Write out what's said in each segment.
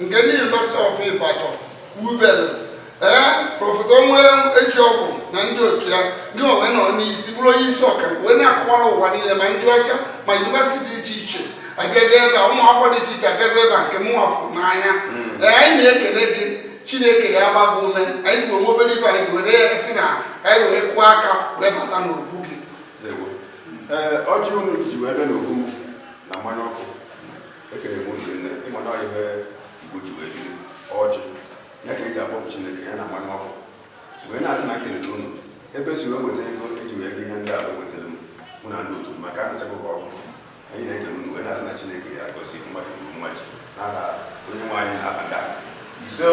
nke ndị University of Ibadan wubere ee prọfesọ Onwuejeogwu na ndị otu ya ndị ọnwa nọ n'isi bụrụ onye isi ọka wee na-akọwara ụwa niile ma ndị ọcha ma yunivesiti dị iche iche abịago ebe a ụmụ akwụkwọ dị iche iche abịago ebe a nke mụnwa fụ n'anya ee anyị na-ekele gị chineke ya agba gị ume anyị ji onwe obere ife anyị were ya si na anyị wee kụọ aka wee bata n'obu gị Ewo. Ee, ọjị unu ji wee bịa n'obu m na mmanya ọkụ ekele m ụzọ nne ịma na ihe igbo ji wee biri ọjị ya ka e ji akpọku chineke ya na mmanya ọkụ wee na-asị na nkelele unu ebe si wee weta ego eji wee go ihe ndị a wee wetara m mụ na ndị otu maka anụchakwa ha ọkụ anyị na-ekele unu wee na-asị na chineke ya agọzi mmadụ uru mmaji n'aha onye nwe anyị na-aba ndị ahụ ise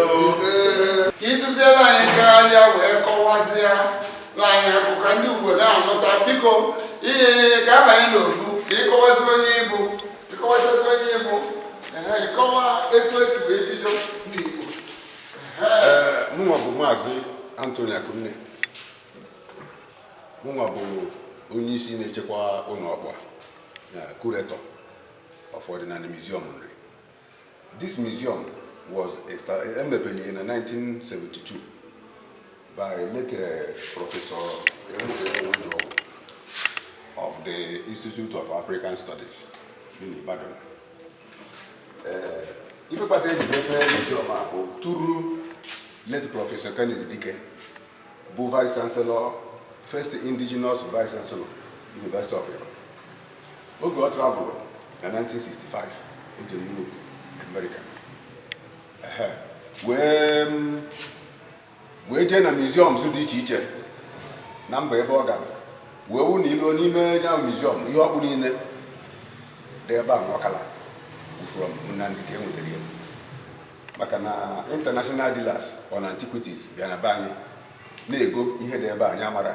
ka ịtụziere anyị karịa wee kọwazie na anyị akụkọ ndị obodo ahụ nụta biko ihe ka a banye n'obu ka ịkọwazi onye ị bụ mụnwa bụ maazị Anthony Akunne mụnwa bụ onye isi na-echekwa ụlọ ọkpụ a kuretọ of Ọdịnanị muziọm Nri This museum was established in 1972 by late uh, Professor Onwuejeogwu of the Institute of African Studies in Ibadan. Uh, ife kpata eji mepe museum a bụ through late Professor Kenneth Dike bụ Vice Chancellor, first indigenous Vice Chancellor, University of Ibadan. oge ọ travelụ na 1965 o jere Europe America wee wee jee na museums dị iche iche na mba ebe ọ gara wee wụ na i luo n'ime ya museum ihe ọkpụ niile dị ebe a ọkala bụ from na Nri ka e nwetara ya maka na international dealers on antiquities bịa na be anyị na-ego ihe dị ebe anyị amara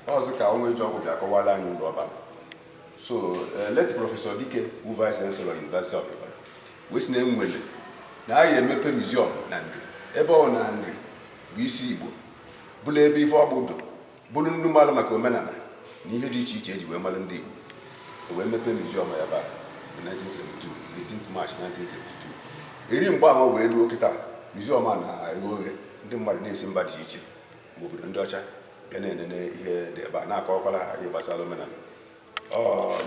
ọzọ ka Onwuejeogwu bịa akọwala anyị ụlọ ọba so eh, late prọfesọ dike bụ vice chancellor university of ibadan wee si na enwere na anyị emepe museum na nri ebe ọ na nri bụ isi igbo bụrụ ebe ife ọkpụ dụ bụrụ ndị mala maka omenala na ihe dị iche iche eji wee mara ndị igbo e wee mepee museum ya ba 1972 18 March 1972 eri mgbe ahụ wee ruo kịta museum a na-eghe oghe ndị mmadụ na-esi mba dị iche iche ma obodo ndị ọcha bịa na-enene ihe dị ebe a na-akọwakwara ha ihe gbasara omenala ọ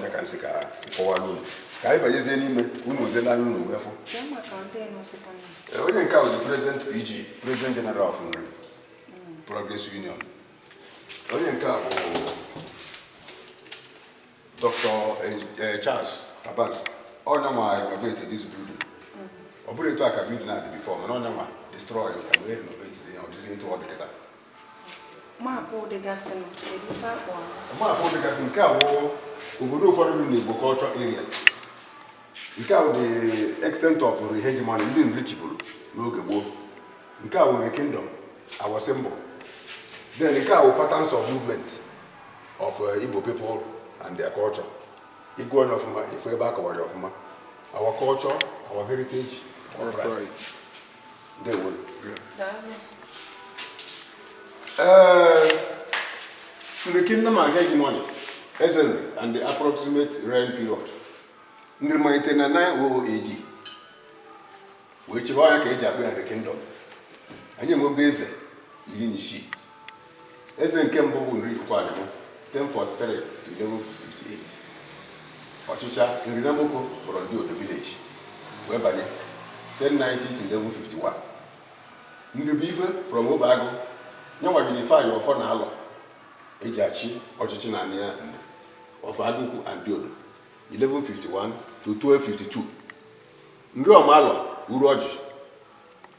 ya ka nsị ka nkọwara unu ka anyị banyezie n'ime ka unu wezela anya unu wee fụ e, onye nke a bụ prezident PG prezident jeneral of Nri Progress Union onye nke a bụ Dr. Eh, eh, Charles Tabansi ọ nyanwa renovate this building ọ bụrọ etu a ka building na-adị before mana ọ nyanwa destroy ka wee renovate ya ọ dịzi etu ọ dị kịta maapụ dịgasị nọ kedu ife akpọ maapụ dịgasị nke a bụ obodo ụfọdụ dị n'Igbo culture area nke a bụ the extent of hegemony ndị Nri chịburu n'oge gboo nke a bụ Nri kingdom our symbol then nke a bụ patterns of movement of uh, Igbo people and their culture. Ị gụọ nya ọfụma ị fụ ebe a kọwara ọfụma. Our culture, our heritage, our pride. Ndewo. Uh, Nri kingdom and hegemony, Eze Nri, and the approximate reign period. Nri malite na 900 AD wee chịba ọ nya ka e ji akpọ ya Nri kingdom. Anyị enwego eze iri na isii eze nke mbụ bụ Nri Ifikuanim 1043 1158 ọ chịcha Nri Namoke from Diodo vileji wee banye 1090 1151 Nri Buife from Obeagụ nyanwa unify ọfọ na alọ e ji achị ọchịchị na anị ya ndị of Agụkwu and Diodo 1151 to 1252 Nri Ọmalọ Uruọjị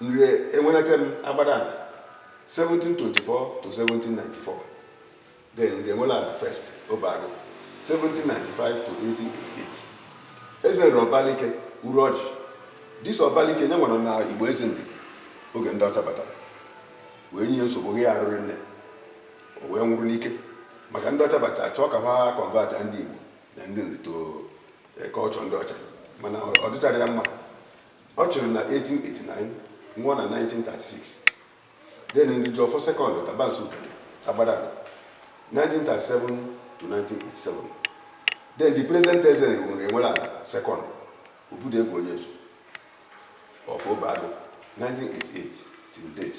Nri Enwenetem Agbadana 1724 to 1794 then Nri Enweleana first Obeagụ 1795 to 1888 Eze Nri Ọbalike Uruọjị dis Ọbalike nyanwa na Igbo Eze Nri oge ndị ọcha batara wee nye nsogbu ya arụrị nne o wee nwụrụ n'ike maka ndị ọcha batara chọọ ka ha kọnvat ndị Igbo na ndị Nri to kọlchọ ndị ọcha mana ọ dịcharọ ya mma Ọ chịrị na 1889 nwụọ na 1936. Den Nri Jiọfọ sekọndụ Tabansi Udene Agbadana 1937 to 1987. Den di prezent Eze Nri Enweleana sekọndụ Obidiegwu Onyeso of Obeagụ 1988 till date.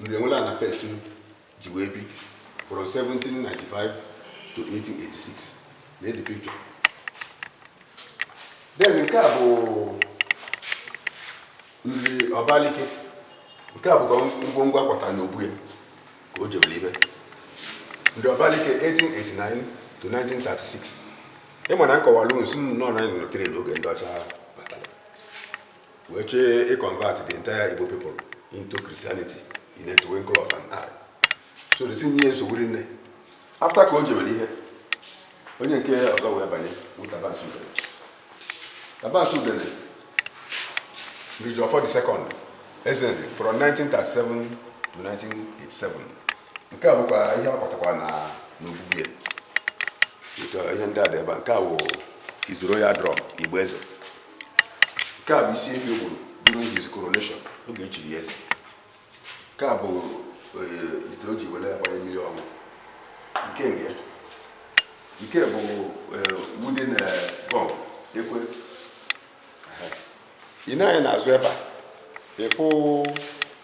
Nri Enweleana fest ji wee bi from 1795 to 1886 nee di pikchọ den nke a bụ Nri Ọbalike nke a bụkwa ngwongwo a kwata na obu ya ka o jebere ibe Nri Ọbalike 1889 to 1936 ị ma na m kọwalụ sị unu na anyị nọtere n'oge ndị ọcha wee chee ịconvert the entire Igbo people into Christianity in a twinkle of an eye so desi nye nsogbu rinne after ka o jewere ihe onye nke ọzọ wee banye bụ Tabansi Udene Tabansi Udene Nrijiofor the second Eze Nri from 1937 to 1987 nke a bụkwa ihe ọ kpọtakwa na n'ogbugbu ya ihe ndị a dị ebe a nke a wụ his royal drum ịgba eze nke a bụ isi efi o gburu during his coronation oge e chiri ya eze nke a bụ eh, ite o ji were agbanye mmiri ọgwụ nke nke nke bụ eh, wooden eh, gong ekwe Aha. ị nee anya n'azụ ebe a ị fụ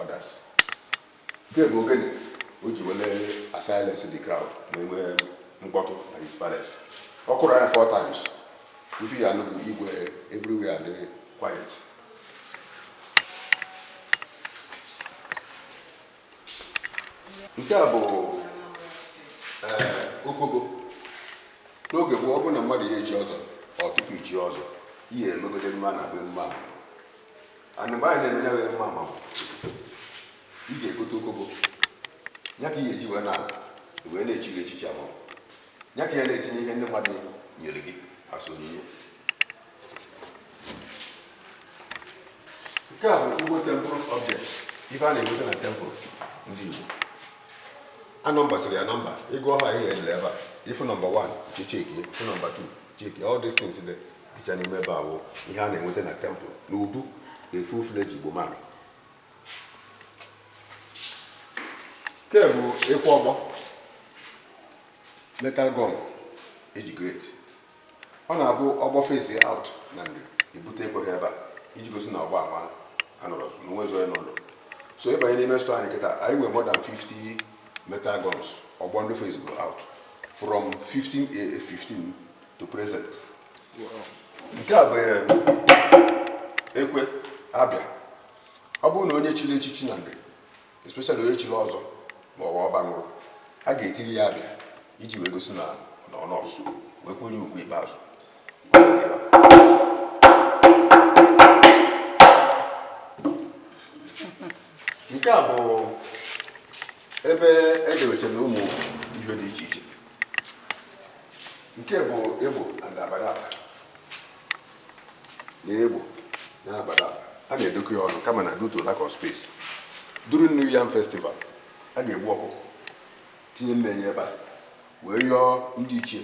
others nke bụ ogene o ji wele asilence the crowd ma e nwee mkpọtụ na his palace ọ kụrụ anya four times ife ị ya-anụ bụ igwe everywhere adị quiet nke a bụ eh, okogo n'oge gboo ọ bụrụ na mmadụ ya echi ọzọ tupu ichi ọzọ ihe emegode mma na be mma anyị na-eme ya wee mma mmanwụ ị ga-egote okogo ya ka ị ga-eji wee na-ala wee na-echi gị echichi ahụ ya ka ya na-etinye ihe ndị mmadụ nyere gị as onyinye nke a bụ Igbo temple objects ife a na-enweta na temple ndị Igbo a nọmbasịrị ya nọmba ị gụọ ha ihe e dere ebe a ị fụ nọmba 1 chekie ị fụ nọmba 2 chekie all these things dị icha n'ime ebe a wụ ihe a na-enweta na temple na obu a full-fledged Igbo man nke bụ ekwe ọgbọ metal gong age grade ọ na-abụ ọgbọ phase out na ndị ebute ekwe ha ebe a iji gosi na ọgbọ ama anọrọ na onwe zọ ya n'ụlọ so ị banye n'ime store anyị kịta anyị nwere more than 50 metal gongs ọgbọ ndị phase go out from 15 a 15 to present nke a bụ eh, ekwe abịa ọ bụrụ na onye chiri echichi na ndụ especially onye chiri ọzọ ma ọ bụ ọba nwụrụ a ga-etiri ya abịa iji wee gosi na ọ nọọsụ wee kwere ugwu ikpeazụ nke a bụ ebe e dewechara ụmụ ihe dị iche iche nke bụ egbo and abadaba na egbo na abadaba a na-edokọ ya ọnụ kama na due to lack of space during new yam festival a ga-egbu ọkụkọ tinye mmee nya ebe a wee yọọ ndị ichie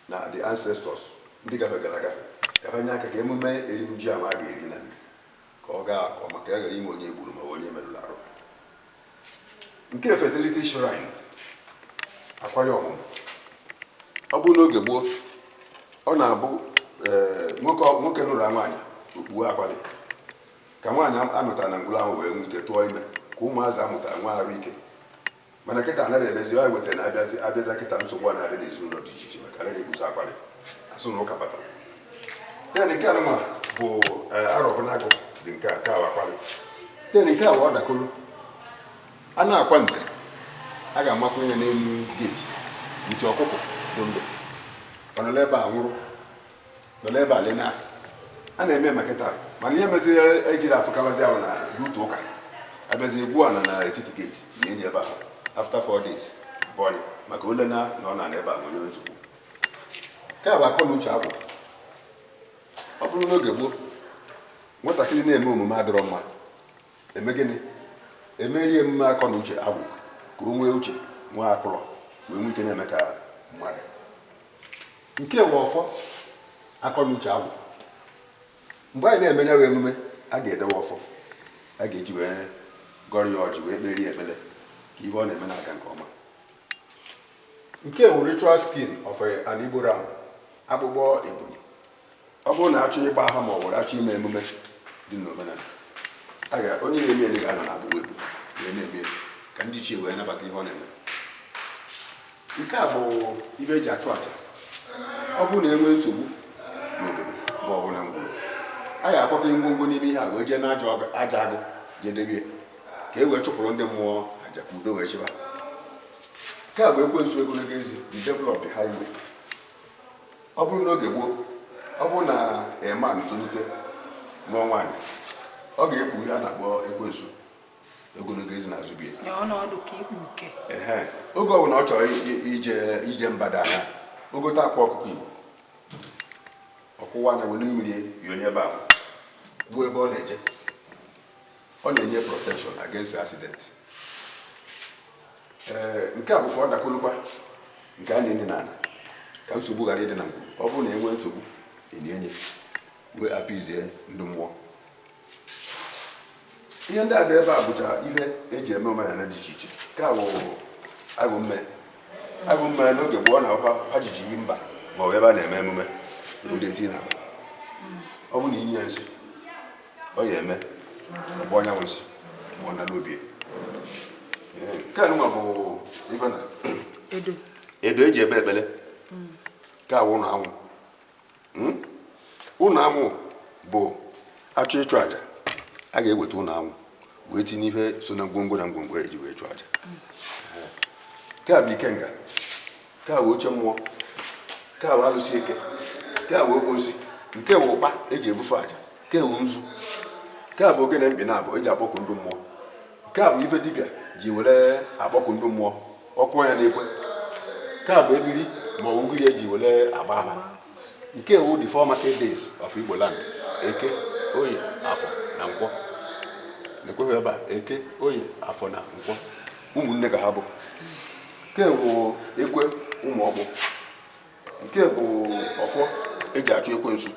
na the ancestors ndị gafegara agafe ka fa nye aka ka emume erim ji ahụ a ga-eri na nke ka ọ gaa nke ọma ka a ghara inwe onye e gburu ma ọ bụ onye e merụrụ arụ nke fertility shrine akwali ọmụmụ ọ bụrụ n'oge gboo ọ na-abụ eh, nwoke nwoke nụrụ nwaanyị o kpuo akwali ka nwaanyị a nụtara na ngwuru ahụ wee nwee ike tụọ ime ka ụmụazị a mụtara nwee arụ ike mana kịta anaghị emezi ya wetara na a bịa a bịazi kịta nsogbu a na-adị n'ezinụlọ dị iche iche maka anaghị ekpuzi akwali a sị na ụka batara then nke anụma bụ eh, Arọbụnagụ then nke a nke a wụ akwali then nke a wụ ọdakoro a na-akwa nze a ga-amakwa ihe n'elu geti nti ọkụkọ dị ndụ ọ nọ n'ebe a nwụrụ nọ n'ebe a lena a na-eme maka taa mana ihe mezi ejiri afụkabazi ahụ na butu ụka abịazi egbuo ya nọ na etiti geti na enyi ebe ahụ after four days bọnyị maka ole na na ọ na n'ebe a nwere nsogbu nke a bụ akọ na uche agwụ ọ bụrụ n'oge gboo nwatakịrị na-eme omume adịrọ mma e mee gịnị e meere ya emume akọ na uche agwụ ka o nwee uche nwee akụrọ wee nwee ike na-eme ka mmadụ nke a bụ ọfọ akọ na uche agwụ mgbe anyị na-eme ya wụ emume a ga-edewe ọfọ a ga-eji wee gọrọ ya ọjị wee kpere ya ekpere ka ihe ọ na-eme na-aga nke ọma Nke a wụ ritual skin of an Igbo ram, akpụkpọ ebunu. Ọ bụrụ na a chọọ ịgba aha ma ọ bụrụ a chọọ ime emume dị n'omenala, a ga onye na-eme eme ga-anọ na akpụkpọ ebunu wee na-eme ka ndị ichie wee nabata ihe ọ na-eme. Nke a bụ ibe e ji achụ aja. Ọ bụrụ na e nwee nsogbu n'obodo ma ọ bụ na ngwuru, a ga-akwakọ ngwongwo n'ime ihe a wee jee n'aja agụ je debe ya ka e wee chụpụrụ ndị mmụọ aja ka udo wee chịba nke a bụ ekwensu ogologo ezi the devil of the highway ọ bụrụ n'oge gboo ọ bụrụ na a man tolite nụọ nwaanyị ọ ga-ekpu ihe a na-akpọ ekwensu ogologo ezi n'azụ be ya oge ọ bụla ọ chọrọ ije mba da ha o gote akwa ọkụkọ igbo ọ kụwaa nya were mmiri ya wụnye ebe ahụ kwuo ebe ọ na-eje ọ na-enye protection against accident ee nke a bụkwa ọ dakolukwa nke a na-enye n'ala ka nsogbu ghara ịdị na ngwuru ọ bụrụ na enwee nsogbu enye enye wee appease ndị mmụọ ihe ndị a dị ebe a bụcha ihe eji eme omenala dị iche iche nke a bụ agụ mme agụ mme n'oge gboo na akwa ha ji eje mba ma ọ bụ ebe a na-eme emume ndị eti na-aba ọ bụ na inye ya nsị ọ ya eme ọgbọ onye nwe nsị ma ọ nara obi nke a nụnwa bụ ife na edo eji ekpe ekpele nke a wụ ụlọ anwụ hmm? ụlọ anwụ bụ achọ ịchụ aja a ga-eweta ụlọ anwụ wee tinye ihe so na ngwongwo na ngwongwo eji wee chụọ aja nke a bụ ikenga nke a wụ oche mmụọ nke a wụ alụsị eke nke a wụ okposi nke wụ ụkpa eji ebufe aja nke wụ nzu nke a bụ ogene mkpị naabọ eji akpọku ndị mmụọ nke a bụ ife dibịa ji were akpọku ndị mmụọ ọ kụ ya n'ekwe nke a bụ ebiri ma ọ ugiri eji were agba ama nke a wụ the four market days of Igbo land eke oye afọ na nkwọ na-ekweghị ebe a eke oye afọ na nkwọ ụmụnne ka ha bụ nke bụ ekwe ụmụ ọgbụ nke bụ ọfọ eji achụ ekwensu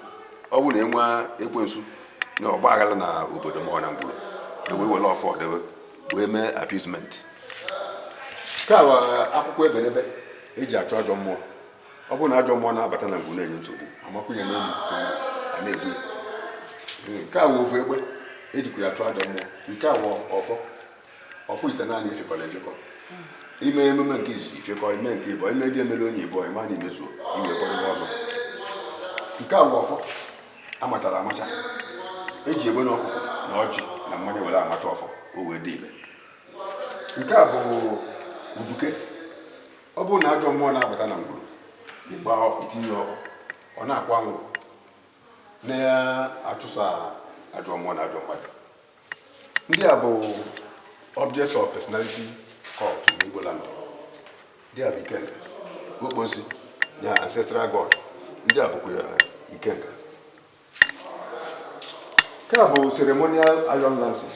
ọ bụrụ na enwee ekwensu na ọgba aghara na obodo ma ọ na ngwuru ewee were ọfọ dewe wee mee appeasement nke a wụ akwụkwọ ebenebe eji achụ ajọ mmụọ ọ bụrụ na ajọ mmụọ na-abata na ngwuru na-enye nsogbu amakwụnye n'elu a na-egbu nke a wụ ofu egbe ejikwa ya achụ ajọ mmụọ nke a wụ ọfọ ọfọ itenaanị efekọrọ efekọ ime emume nke izizi ifekọ ime nke ịbọ ime ndị emere onye ịbọ ịma na imezuo iwee kpọrọ ọzọ nke a bụ ọfọ amachara amacha eji egbene ọkụkọ na ọjị na mmanya were amacha ọfọ o wee dị ile nke a bụ uduke ọ bụrụ na ajọ mmụọ na-abata na ngwuru ịgba itinye ọkụ ọ na-akwụ anwụrụ na-achụsa ajọ mmụọ na ajọ mmadụ ndị a bụ objects of personality cult n'Igbo land ndị a bụ ikenga okposi ya ancestral god ndị a bụkwa ya ikenga nke a bụ ceremonial iron lances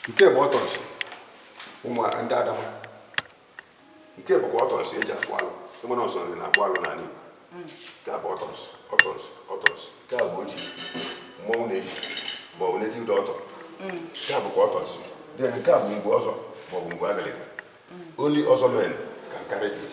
nke bụ ọtọnsị ụmụ ndị Adama nke bụkwa ọtọnsị eji akpụ alụ ịma na ọ sọ Nri na-akpụ alụ n'ala Igbo nke a bụ ọtọnsị ọtọnsị ọtọnsị nke a bụ oji mmọnwụ na-eji ma ọ bụ native doctor nke a bụkwa ọtọnsị then nke a bụ ngwu ọzọ ma ọ bụ ngwu agaliga only ọzọ men can carry it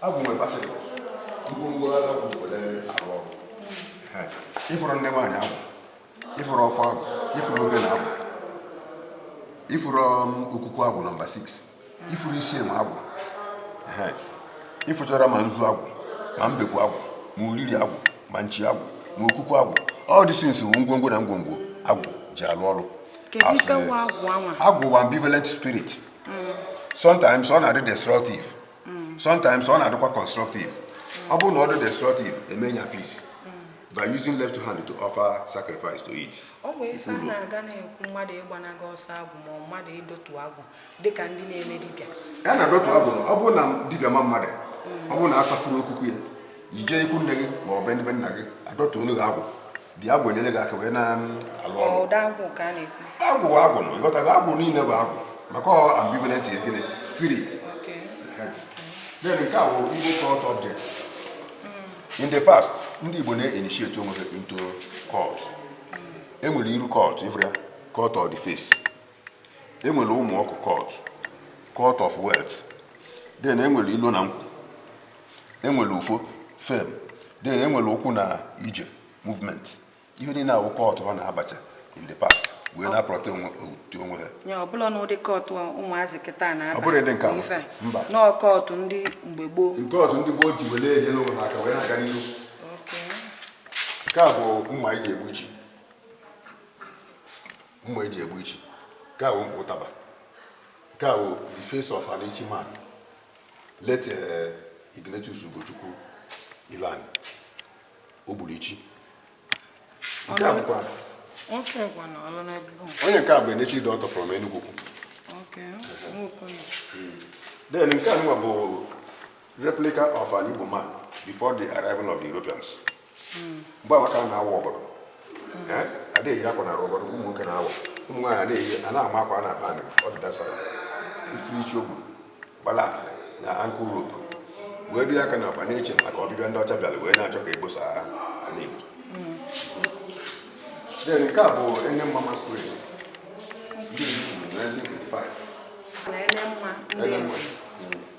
Agwụ nwere particles ngwongwo agwụ were arụ ọrụ ịfụrụ nne nwaanyị agwụ ịfụrụ ọfọ agwụ ịfụrụ obele agwụ ịfụrụ okuku agwụ nọmba 6 ịfụrụ isi enwe agwụ ịfụchara ma nzu agwụ ma mbekwu agwụ ma uriri agwụ ma nchi agwụ ma okuku agwụ all these things ngwongwo na ngwongwo agwụ ji alụ ọrụ agwụ bụ ambivalent spirit sometimes ọ na-adị destructive mm. sometimes ọ na-adịkwa constructive ọ bụrụ na ọ dị destructive eme ya peace by using left hand to offer sacrifice to it. o nwee ife a na-aga na-ekwu mmadụ ịgbanaga ọsọ agwụ ma mmadụ ịdọtu agwụ dịka ndị na-eme dibịa a na-adọtu agwụ ọ bụrụ na dibịa ma mmadụ ọ bụrụ na asafuru okuku ya ije ikwu nne gị ma ọ bụ ndị be nna gị adọtuolu gị agwụ dị agwụ enyere gị aka wee na-alụ ọrụ ụdị agwụ ka a na-ekwu agwụ bụ agwụ nọ ịghọtago agwụ niile bụ agwụ maka ọ ambivalent gịnị spirit then nke a bụ igbo cult objects mm. in the past ndị igbo na-initiate onwe ha into cult mm. enwere iru cult ịfụrụ ya cult of the face enwere ụmụ ọkụ cult cult of wealth then enwere ilo na nkwụ enwere ufo fame then enwere ụkwụ na ije movement ife ndị a wụ cult ha na-abacha in the past wee na-aprotect onwe ha nye ọbụla n'ụdị cult ụmụazị kịta na-aba ọ bụrọ ụdị nke a mba no cult ndị mgbe gboo cult ndị gboo ji wele enyere onwe ha aka wee na-aga n'ihu nke a bụ mma eji egbu ichi mma eji egbu ichi nke a bụ mkpọ ụtaba nke a bụ the face of an ichi man late eh, Ignatius Ugochukwu Ilan o gbulu ichi nke a bụkwa onye nke a bụ native doctor from Enugwu Ukwu then nke a bụ replica of an Igbo man before the arrival of the Europeans mgbe anyị ka na-awa ọgọdọ ada eyi akwa na-arụ ọgọdọ ụmụ nwoke na-awa ụmụ nwaanyị na-eyi a na-ama akwa a na-akpa amị ọ dị dasara ifuru ichi o gbu gbalata na ankle rope wee dị aka na akpa na-eche maka ọbịbịa ndị ọcha bịara wee na-achọ ka egbosa ha ala Igbo then nke a bụ ene mma masquerade ndị Igbo kwuru na 1985 na ele mma ndị Ele mma.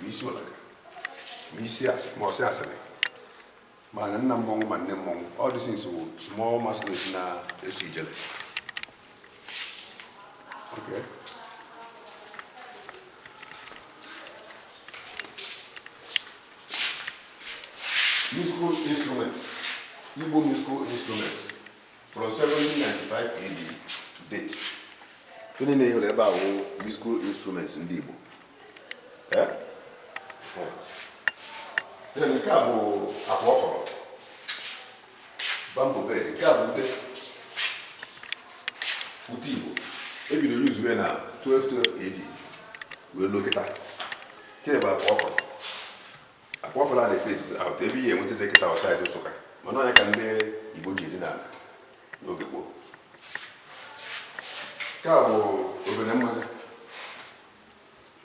ma isi ụlaga ma isi ma ọsị asịrị ma nna mmọnwụ ma nne mmọnwụ all these things wụ small masquerade na-eso ijele okay. musical instruments Igbo musical instruments from 1795 AD to date ndị enwere ebe a wụ musical instruments ndị Igbo nke a bụ akwa ọkọrọ bamboo bed nke a bụ ute ute igbo ebido yuzue na 1212 AD wee luo kịta nke bụ akwa ọkọrọ akwa ọkọrọ a na-efesi out ebe ihe enwetazi kịta ọ saịdị nsụka mana ọ ya ka ndị igbo ji edina ala n'oge gboo nke a bụ obere mmanya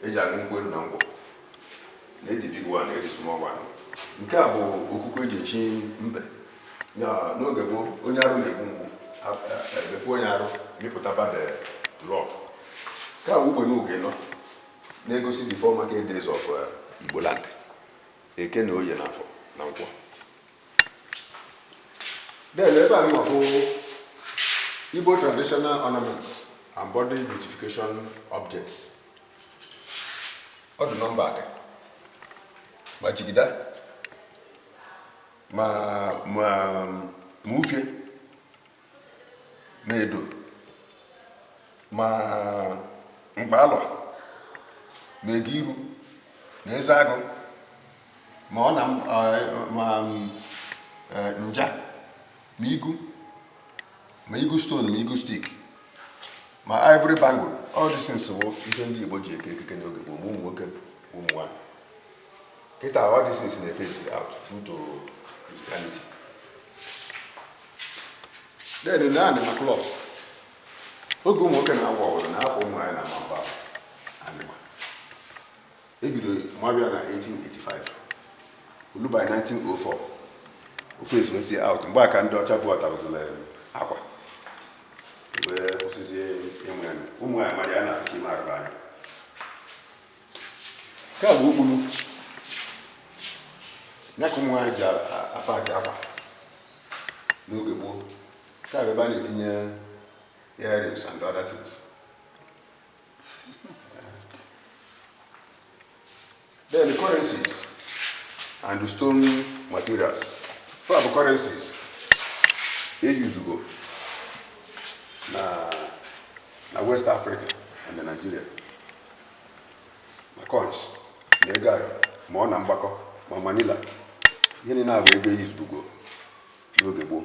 eji aṅụ nkwụ elu na ngwọ na ndị big one na ndị small one nke a bụ okuku eji echi mbe na n'oge gboo onye arụ na-egbu mgbu ebefu onye arụ mịpụta bad blood nke a bụ ugbe n'oge nọ na-egosi the four market days of igbo land eke na oye na afọ na nkwọ then ebe a nwa bụ Igbo traditional ornaments and body beautification objects ọ dị nọmba adị ma jigida ma ma ma ufie ma edo ma mkpalọ ma ego iru na eze agụ ma ọna ma nja ma igu ma igu stone ma igu stick ma ivory bangle all these things bụ ife ndị Igbo ji eke ekike n'oge gboo ma ụmụ nwoke ụmụ nwaanyị Kịta, all these things na-efesi out due to Christianity. Then na anịma cloth, oge ụmụ nwoke na-agwa ọbụla na afọ ụmụ nwaanyị na-ama mba anịma ebido maba ya na 1885 olu by 1904 o fesizie out mgbe a ka ndị ọcha bubatazili akwa wee kwụsịzie ịma ya ụmụ nwaanyị mara ya na-afụcha ime arụ fa anya nke a bụ okpuru ya ka ụmụ nwaanyị ji afanye akwa n'oge gboo nke a bụ ebe a na-etinye earrings and other things then the currencies and the stone materials fa bụ currencies eyuzugo na na west africa and na nigeria ma coins ma ego ayọ ma ọna mgbakọ ma manila ihe niile a bụ ego eyuzugo n'oge gboo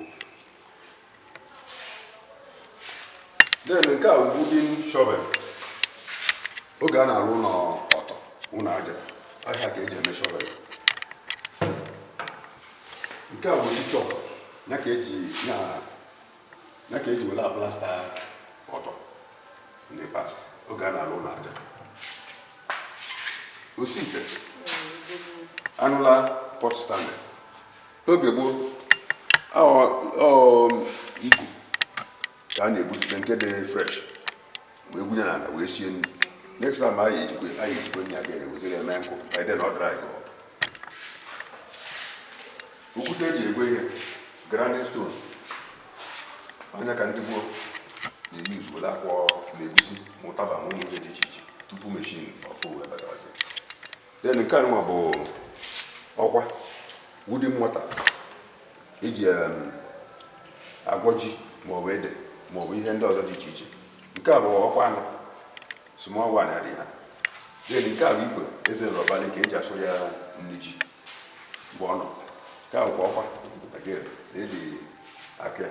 then nke a bụ wooden shovel oge a na-arụ ụlọ ọtọ ụlọ aja ọ ya ka eji eme shovel nke a bụ chichọ ya ka eji na ya ka eji were aplasta ọtọ in the past oge a na-alụ ụlọ aja osi ite anụla pot stand oge gboo igu ka a na-ebujite nke dị fresh wee gwunye n'ala wee sie nri next time anyị ya-esikwe nri aga ewetara eme nkụ by then ọ dry okwute eji egwe ihe grinding stone ọ nya ka ndị gboo na-eyuzu were akwọ ma egusi ma ụtaba ma ụmụ ihe dị iche iche tupu meshin ọfụ wee batazi then nke anụnwa bụ ọkwa wooden mortar eji em, agwọ ji maọbụ ede maọbụ ihe ndị ọzọ dị iche iche nke a bụ ọkwa anọ small one adịghị ha then nke a bụ ikwe Eze Nri Ọbalike eji asụ ya nri ji mgbe ọ nọ nke a bụkwa ọkwa again eji aka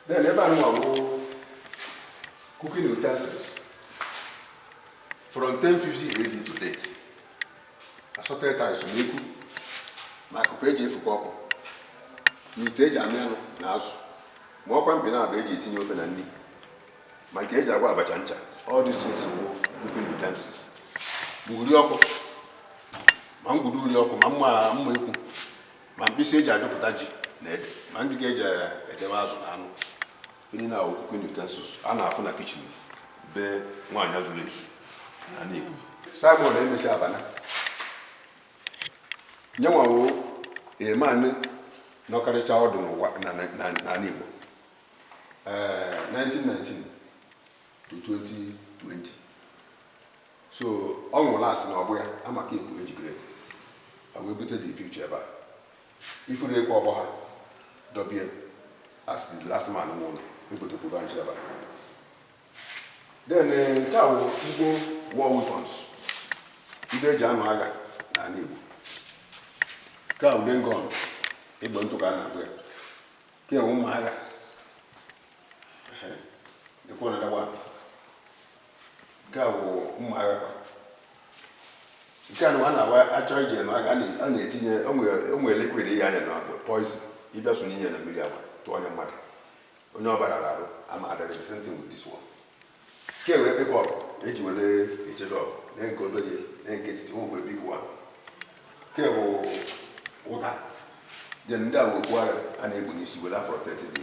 then ebe a nwa bụ cooking utensils from 1050 AD to date assorted items ma ekwu ma akupe eji efuko ọkụ na ite eji amị anụ na azụ ma ọkwa mkpị naabọ eji etinye ofe na nri ma nke eji agwọ abacha ncha all these things wụ cooking utensils ma uri ọkụ ma ngwuru uri ọkụ ma mma mma ekwu ma mkpịsị eji adụpụta ji na ede ma ngịga eji edewe azụ na anụ ndị a wụ cooking utensils a na-afụ na kitchen be nwaanyị zuru ezu na Igbo Simon emesi abana nya nwa wụ man nọkarịcha ọdụ n'ụwa n'ala Igbo eh, 1919 to 2020 so ọ nwụrụ last n'ọgbọ ya amaka ekwu age grade ha wee bute the picture ebe a ifuru ekwe ọgbọ ha dọbie as the last man nwụrụ ebutekwuru ha ncha ebe a then eh, nke a bụ igbo war weapons ndị eji anụ agha n'ala igbo nke a bụ dane gun egbe ntụ ka a na-agụ ya ke wụ mma agha dịka dagger nke a bụ mma agha kwa nke anụnwa achọ ije agha a na-etinye onwe likwid ihe anya na bụ poison ịbịa sonye ihe na mmiri a bịa tụnye mmadụ onye ọ bara arụ ama adịrị same thing with this one Ke bụ ekpeke ọgụ eji were echedo ọgụ na nke obere na nke etiti nwekwa big one. Ke bụ ụta then ndị a bụ okpu agha a na-ekpu n'isi were protect the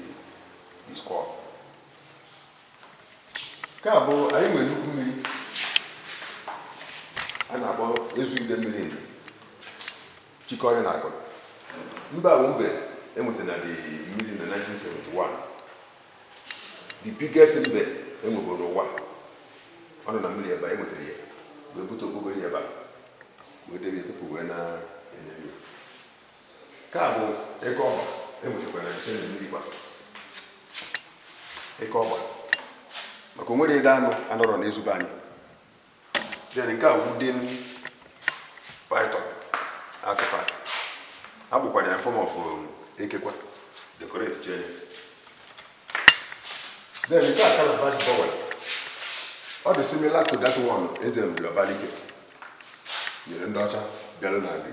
the skull. Nke a bụ anyị nwere nnukwu mmiri a na-akpọ ezu ide mmiri ndụ chikọrọ na akụ mbe a bụ mbe enwetara na the mmiri na 1971 the biggest mbe enwego n'ụwa ọ nọ na mmiri ebe a enwetara ya wee bute okpokoro ya ebe a wee debe people wee na-ene ya nke a bụ eke ọgba enwetakwara na same mmiri kwa eke ọgba maka o nwerọ ụdị anụ anọrọ na ezu be anyị then nke a wooden python artifact akpụkwara ya form of um, eke kwa decoration then nke a calabash bowl ọ dị similar to that one eze nri ọbalike nyere ndị ọcha bịara na nri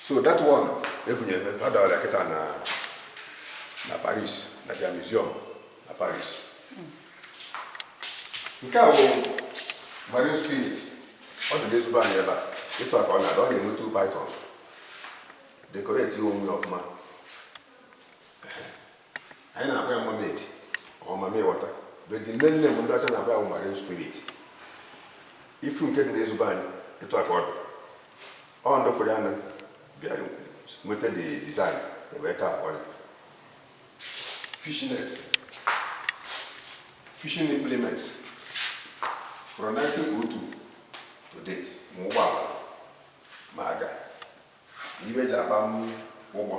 so that one ebunyere ọ dọrọ ya kịta na na paris na their museum na paris nke a bụ marine spirit ọ dị n'ezu be anyị ebe a etu aka ọ na-adị ọ na-enwe two pythons decorate onwe ya ọfụma anyị na-akpọ ya mermaid ọ mamịwata but the main name ndị ọcha na-akpọ ya bụ marine spirit ifu nke dị n'ezu be anyị etu aka ọ dị ọ ndị fụrụ ya nụ bịara nweta the design ewee carve ọ ya fishnet fishing implements from 1902 to date ma ụgbọala ma aga na ife eji akpa m ụgbọ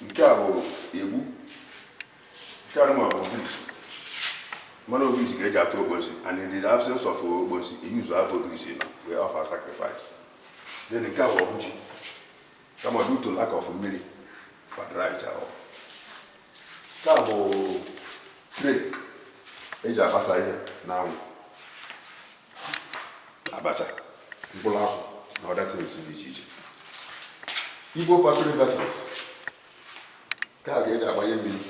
nke a bụ egbu nke a nwa bụ ogirisi mana ogirisi ka eji atụ ogbosi and in the absence of ogbosi i use abụ ogirisi nọ wee offer sacrifice then nke a bụ ọgbụ chi kama due to lack of mmiri fa dried up nke a bụ tray eji agbasa ihe n'anwụ abacha mkpụrụ akwụ na other things dị iche iche igbo pottery vessels nke a ka eji agbanye mmiri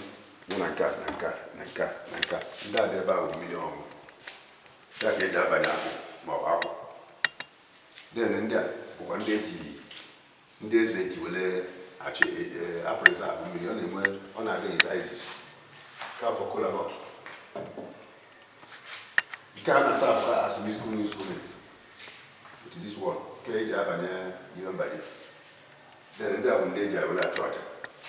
nọ na nka na nka na nka na nka ndị a dị ebe ahụ mmiri ọṅụ nke a ka eji abanye akwụ ma ọ bụ akwụ then ndị a bụkwa ndị eji ndị eze ji were achị a-preserve mmiri ọ na-enwe ọ na-adị in sizes nke a for kola nut nke a na-aserve kwa as musical instrument with this one nke eji abanye ihe mbanye then ndị a bụ ndị eji were achụ aja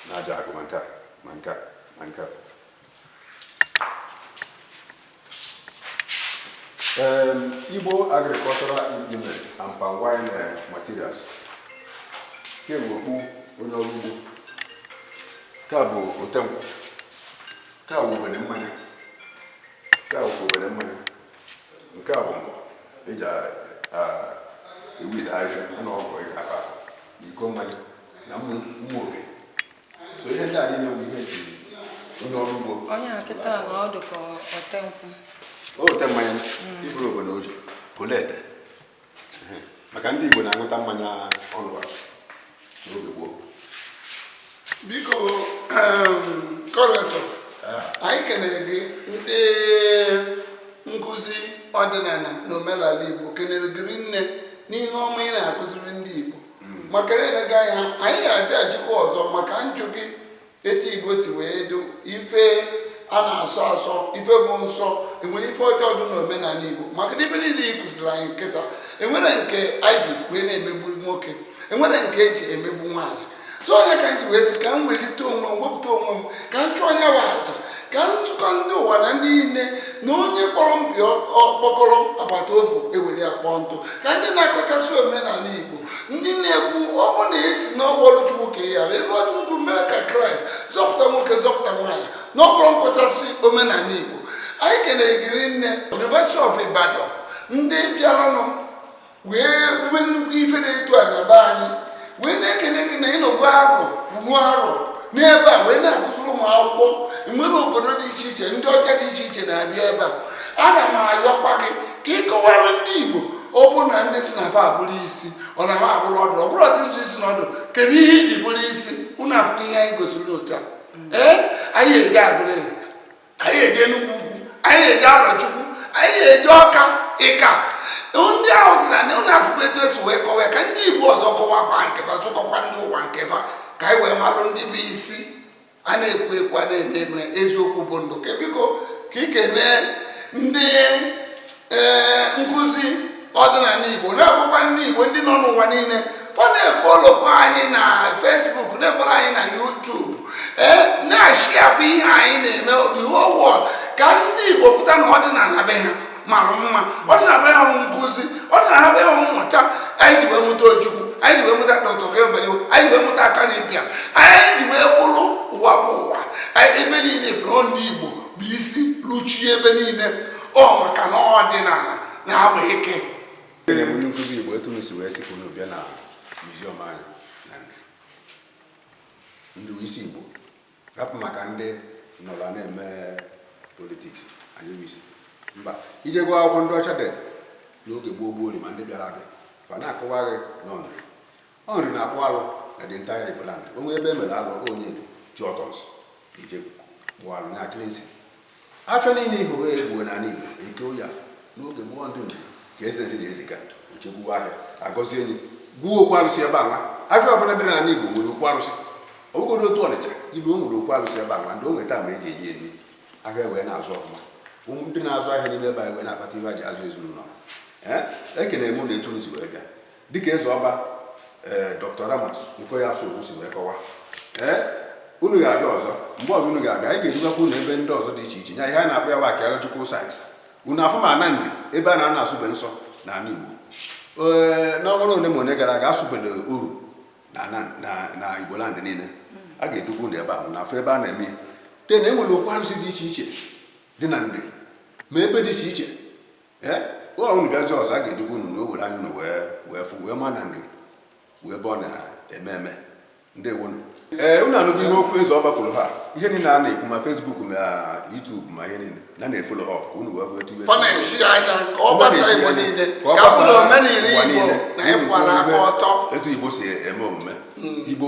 na aja agwụ ma nke a ma nke a ma nke a Um, Igbo agricultural implements and palm wine uh, materials nke a bụ okpu onye ọrụ ugbo nke a bụ otenkwụ nke a bụ obele mmanya nke a bụ obele mmanya nke a bụ nkọ eji ewid ahịhịa a na ọgụ eji akpa na iko mmanya na mma oge so ihe ndị a niile bụ ihe eji onye ọrụ ugbo onye a kịta na ọ dị ka ote nkwụ ote mmanya mm. iburu obodo oji polete maka ndị Igbo na-aṅụta mmanya ọnụwa n'oge gboo biko curator anyị kenere gị ndị nkụzi ọdịnala na omenala Igbo kenere gị rinne n'ihe ọma ị na-akụziri ndị Igbo maka na eleghị anya anyị ga-abịaghachikwa ọzọ maka njụ gị etu igbo si wee do ife a na-asọ asọ ife bụ nsọ enwere ife ọjọọ dị n'omenala igbo maka na ife niile ị kụziri anyị kịta enwere nke anyị ji wee na-emegbu nwoke enwere nke eji emegbu nwaanyị so ọ ya ka m ji wee sị ka m welite onwe m wepụta onwe m ka m chụọ onwe m aja ka m zikọ ndị ụwa na ndị niile na onye kpọrọ ọba ya ọkpọkọrọ agbata obi ewere ya kpoo ntụ ka ndị na-akọchasị omenala igbo ndị na-ekwu ọ bụ na esi n'ọgbọ ọrụ chukwu ka ya ghara ebe ọtụtụ mee ka kraịst zọpụta nwoke zọpụta nwaanyị na ọkpọrọ nkọchasị omenala igbo anyị kelere gị rinne University of Ibadan ndị bịaranụ wee mee nnukwu ife dị etu a na be anyị wee na-ekele gị na ị nọgo arọ kwuru arọ n'ebe a wee na-akụziri ụmụ akwụkwọ enwere obodo dị iche iche ndị ọcha dị iche iche na-abịa ebe a ana m ayọkwa gị ka ị kọwara ndị Igbo ọ bụ na ndị si na fa abụrụ isi ọ na ha abụrụ ọdụ ọ bụrụ ọdị ntụ isi na ọdụ kedu ihe iji bụrụ isi unu afụgo ihe anyị gosiri unu taa ee anyị eje Agụlụ anyị eje Enugwu Ukwu anyị eje Arọchukwu anyị eje Ọka ịka ndị ahụ si na ụlọ akwụkwọ etu esi wee kọwa ka ndị Igbo ọzọ kọwakwa nkefa zikọkwa ndị ụwa nkefa ka anyị wee malụ ndị bụ isi a na-ekwu ekwu a na-eme eme eziokwu bụ ndụ ka biko ka ị kenee ndị ee nkụzi ọdịnala igbo na-agwakwa ndị igbo ndị nọ n'ụwa niile fa na-efolokwa anyị na Facebook na-efolo anyị na YouTube ee na-ashiakwa ihe anyị na-eme obi wọwọ ka ndị igbo fụta na ọdịnala be ha mara mma ọdịnala be ha nkụzi ọdịnala be ha mmụta anyị ji wee mụta Ojukwu anyị ji wee mụta dọkta K.O. Mbadiwe anyị ji wee mụta Akanu Ibiam anyị ji wee bụrụ ụwa bụ ụwa ebe niile fụrụ ndị igbo bụ isi luchie ebe niile ọ maka na ọdịnala na-agba ike onye nkụzi Igbo etu unu si wee sị ka unu bịa na muziọm anyị na Nri isi Igbo rapụ maka ndị nọla na-eme politiks anyị bụ isi mba ị jee gụọ akwụkwọ ndị ọcha dị n'oge gboo gboo ma ndị bịara abịa fa na-akọwa gị n'ọnụ Ọ Nri na-akpụ alụ na the entire Igbo land. O nwee ebe e mere alụ onye Nri ji ọtọnsị je kpụọ alụ na cleansing. Afịa niile ị hụrụ ugbu a na ala Igbo Eke Oye Afọ n'oge gboo ndị Nri ka Eze Nri na-eziga ochegbuwa ahịa agọzie enyi gwuo okwu alụsị ebe anwa afịa ọbụla dị n'ala Igbo nwere okwu alụsị ọ bụgodu Otu Ọnịcha ị luo o nwere okwu alụsị ebe anwa ndị o nweta ma eji eji eri ahịa wee na-azụ ọfụma ụmụ ndị na-azụ ahịa n'ime ebe anyị wee na-akpata ihe ha ji azụ ezinụlọ ha. Ee, ekene m na etu unu si wee bịa Dịka eze ọba ee Dr. Ramas Okoye Asuzu si wee kọwa ee unu ga-abịa ọzọ mgbe ọzọ unu ga-abịa anyị ga-edugakwa unu ebe ndị ọzọ dị iche iche nya ihe a na-akpọ ya bụ archaeological sites unu afụ ma ana Nri ebe a na-anọ asụbe nsọ na ala Igbo ee n'ọnwa ra ole ma ole gara aga a sụbere oru na ana- na- na Igbo land niile a ga-edugwa unu ebe ahụ unu afụ ebe a na-eme ya te na e nwere okwu arụsị dị iche iche dị na Nri ma ebe dị iche iche ee unu bịazie ọzọ a ga-eduga unu n'obodo anyị unu wee wee fụ wee ma na Nri wụ ebe ọ na-eme eme ndewonu ee unu anụgo ihe okwu eze ọba kwuru ha ihe niile a na-ekwu ma Facebook ma YouTube ma ihe niile na na-efollow up ka unu wee fụ etu unu ga-esi enye aka ọ gbasa igbo niile ka ọ bụrụ omenala igbo na ịkwụba aka ọtọ etu igbo si eme omume igbo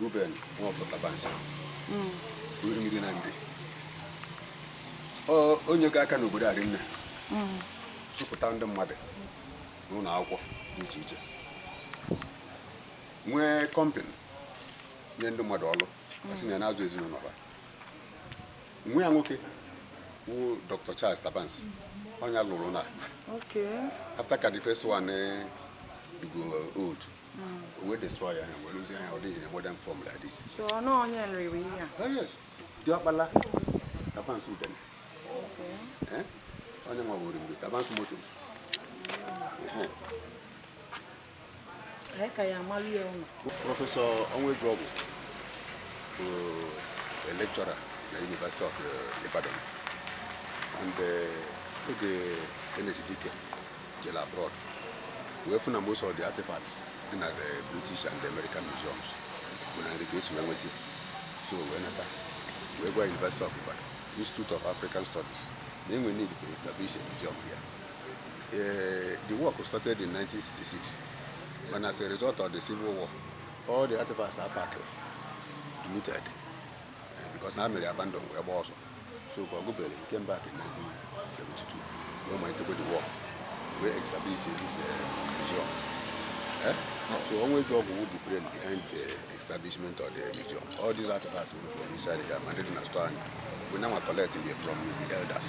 Reuben Nwafọ Tabansi hmm. Orimiri na Nri o nyego aka n'obodo a rinne hmm. zụpụta ndị mmadụ n'ụlọ akwụkwọ dị iche iche nwee kọmpani nye ndị mmadụ ọrụ ha si na ya na-azụ ezinụlọ ha nwa ya nwoke wu Dr. Charles Tabansi ọ nya lụrụ na after ka the first one dịgo old o wee destroy ya wee lụzie ya ọ dị na modern form like this so ọ nọ onye Nri lụrụ ihe a oh yes diọkpala Tabansi Udene eh? onye nwa wụ Reuben Tabansi Motors anyị ka ya amalụ ya ụlọ Professor Onwuejeogwu bụ a lecturer na University of eh, Ibadan and eh, oge Kenneth Dike jere abroad wee fụ na most of the artifacts dị na the british and the american museums bụ na Nri ka e si wee nweta so wee nata wee gwa university of ibadan institute of african studies na e nwe need to establish a museum here uh, the work started in 1966 but as a result of the civil war all the artifacts are packed looted because ha mere abandon wee gba ọsọ so ka ọgụ bere came back in 1972 wee malitekwa the work wee establish this museum eh? so Onwuejeogwu bụ brain behind the establishment of the museum all these artifacts were from inside the man na store anyị bụ nya nwa collect from the elders